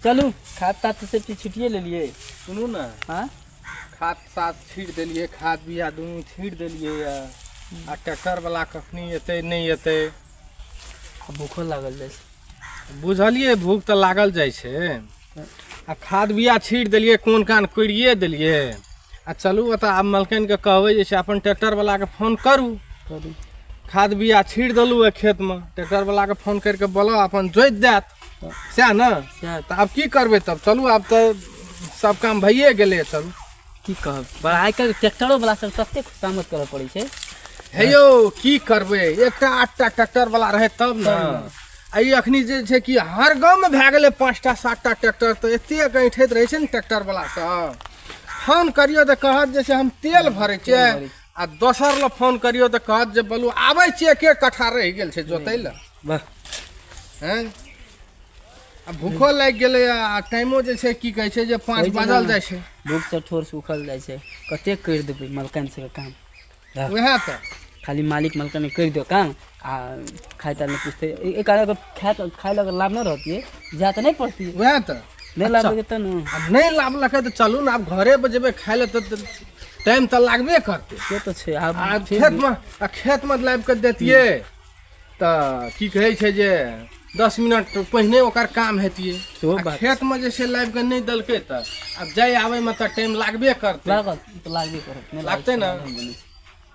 चलू खाद ताद से सेफ्टी छुटिए लेलिए सुनू ने हाँ खाद साद छीट देलिए खाद बिया दुनू छीट देलिए या आ ट्रैक्टर वाला कखनी एतै नहि एतै भूखो लागल जाइ छै बुझलिए भूख तऽ लागल जाइ छै आ खाद बिया छीट देलिए कोन कान कोड़िए देलिए आ चलू ओतऽ आब मलकनके कहबै जे छै अपन ट्रैक्टरवलाके फोन करू करू खाद बिया छीट देलहुँ ओहि खेतमे ट्रैक्टरवलाके फोन करिके बोलऽ अपन जोति देत सएह ने तऽ आब की करबै तब चलू आब तऽ सब काम भइए गेलै चलू की कहब पर आइ काल्हि ट्रैक्टरो वाला सब तते खुशामद करऽ पड़ै छै हे यौ की करबै एकटा आठटा ट्रैक्टर वाला रहै तब ने हँ। आ ई अखनी जे छै कि हर गाँवमे भए गेलै पाँचटा सातटा ट्रैक्टर तऽ एतेक ऐठैत रहै छै ने ट्रैक्टर वाला सब फोन करियौ तऽ कहत जे छै हम तेल भरै छियै तेल भरै आ दोसर लए फोन करियौ तऽ कहत जे बोलू आबै छियै के कट्ठा रहि गेल छै जोतै लए बस हैं आ भूखो लागि गेलै आ टाइमो जे छै की कहै छै जे पाँच होइ छै बाजल ने। जाइ छै भूखसँ ठोर सुखल जाइ छै कतेक करि देबै मलकन सबके काम रह। उएह तऽ खाली मालिक मलकन करि दियौ काम आ खाइ ताइ नहि पुछतै ए- एक आधा अगर खाय तऽ खाय लए अगर लाभ नहि रहतियै जाय तऽ नहि पड़तियै उएह तऽ नहि लाभ रहतै तऽ ने आ नहि लाभलकै तऽ चलू ने आब घरे पर जेबै खाय लए तऽ तऽ टाइम तऽ लागबे करतै से तऽ छै आब आ फिर भी- खेतमे आ खेतमे लाबि कऽ देतियै तऽ की कहै छै जे दस मिनट पहिने ओकर काम हेतियै सेहो आ बात। खेतमे जे छै लाबि कऽ नहि देलकै तऽ आब जाय आबयमे तऽ टाइम लागबे करतै लागल तऽ लागबे करत नहि लागतै ने। लागल बनै छै।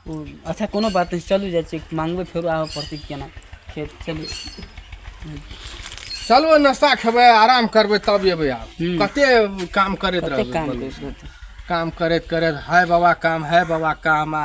ओ अच्छा कोनो बात नहि चलू जाइ छी मांगबै फेरो आबऽ पड़तै केना खेत चलू चलू नाश्ता खेबै आराम करबै तब एबै आब हूँ। कते काम करैत कते रहबै काम बोलू। करैत रहतै काम करैत करैत हाय बाबा काम हाय बाबा काम आ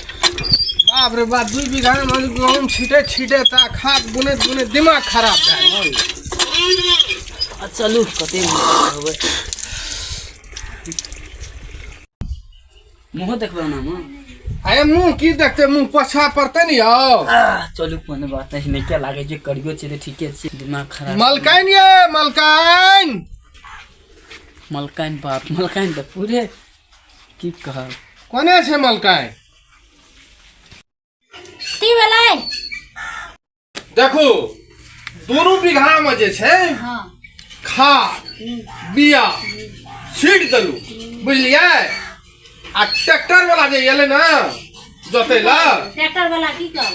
बाप रे बाप दुई बिघा माने गहुम छिटे छिटे ता खाद बुने बुने दिमाग खराब भए गेल। चलू कते होबै मुहो देखबै ना माँ अरे मुँह की देखते मुँह पोछा पड़ते नहीं आओ आह, चलू कोनो बात नहीं नीके लागे जे करियो छै तऽ ठीके छै दिमाग खराब मलकाइन ये मलकाइन मलकाइन बाप मलकाइन तऽ पूरे की कहब कोने छै मलकाय की भेलै देखू दुनू बीघामे जे छै हँ खाद बिया छीट देलू बुझलियै आ ट्रैक्टर वाला जे एलै ने जोतै लए ट्रैक्टर वाला की कहब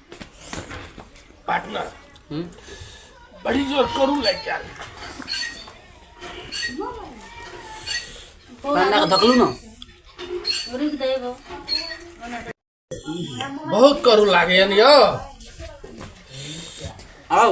पार्टनर हम्म? बड़ी जोर करू लग गया पाना का धकलू ना रुक दे वो बहुत करू लागे यौ आओ